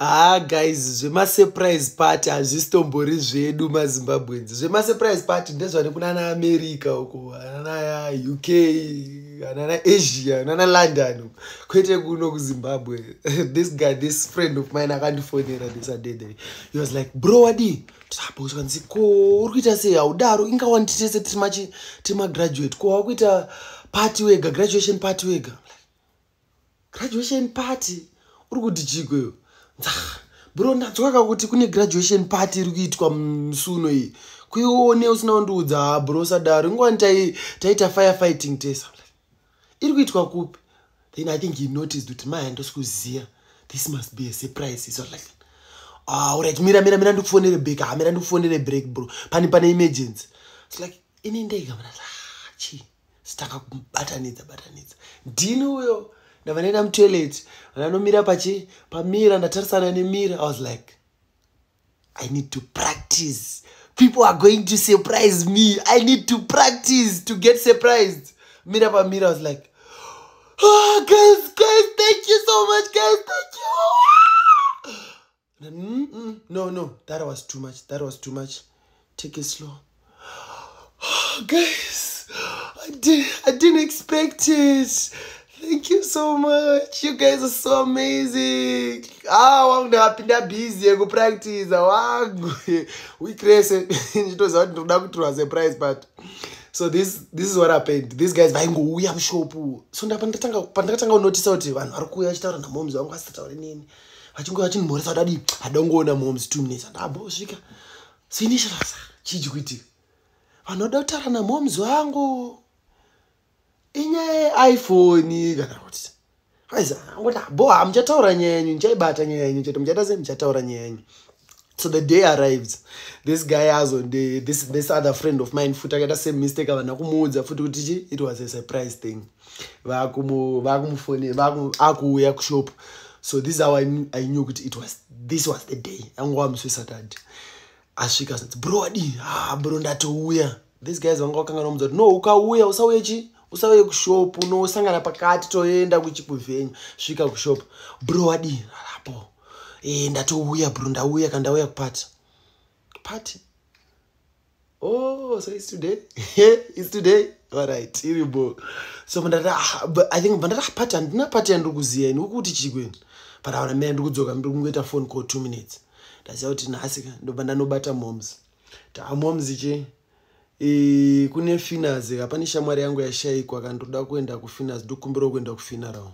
haa guys zvemasurprise party hazvisitombori zvedu mazimbabwenzi zvemasurprise party ndezvane kunana america uko anana uk anana asia anana london kwete kuno kuzimbabwe this guy this friend of mine akandifonera this adede he was like bro wadii taabokanzi ko uri kuita sei haudaro inga wanditese tiri magraduate ko wakuita party wega graduation party wega graduation party uri kuti chiko iyo bro ndanzwaka kuti kune graduation party iri kuitwa musuno iyi kuione usina kundiudza ha bro sadaro ingowani taita fire fighting tesa iri kuitwa kupi then i think he noticed kuti maya ndosikuziva this must be a surprise iso like ah, right mira mira mira ndikufonere break ha ah, mira ndikufonere break bro pani pane emergency its like ini ndega mna ah, chii sitanga kumubatanidza batanidza ndini uyo ndavanoenda mutoilet vananomira pachi pamira ndatarisana nemira i was like i need to practice people are going to surprise me i need to practice to get surprised mira pamira i was like oh, guys guys thank you so much guys thank you mm -mm. no no that was too much that was too much take it slow guys I, did, i didn't expect it thank you so much you guys are so amazing ah wangu ndakapinda busy yekupractiza wangu week rese ndichitoziva kuti ndikuda kutirwa surprise but so this, this is what happened these guys vaingouya mushopu so ndapa ndatanga pandatanga kunotisa kuti vanhu vari kuuya vachitaura namoms vangu vasitaure nini vachinge vachinimhoresa kudadi adangoona moms two minutes andambosvika sinishasa chiji kuitika vanhu vada kutaura namoms vangu inyaya yeiphone kana kuti aizangoti abo ah, hamuchataura nyaya yenyu ndichaibata nyaya yenyu chete muchaita sei muchataura nyaya yenyu so the day arrives this guy azo this, this other friend of mine futi akaita same mistake avana kumuudza futi kuti chi it was a surprise thing vakumufone akuuya kushop so this how i knew kuti it was this was the day anga wamuswe saturday asvika zvinzi bro wadii ha ah, bro ndatouya these guys vanga vakanga nomudza kuti no ukauya usauye chi usauye kushop unosangana pakati toenda kuchikuvenyu svika kushop bro wadii apo e, eh, ndatouya bro ndauya kandauya kupati pati oh so it's today it's today alright iri bo so mandati ah, i think mandati ah, pati handina pati yandiri kuziva ini ukuti chii kweni but aona mira ndiri kudzoka ndiri kungoita phone call two minutes ndaziva kuti nhasi ka ndobva ndanobata moms taa moms chii e, kune finas ka pane shamwari yangu yashaikwa ka ndoda kuenda kufinas ndokumbirawo kuenda kufinarao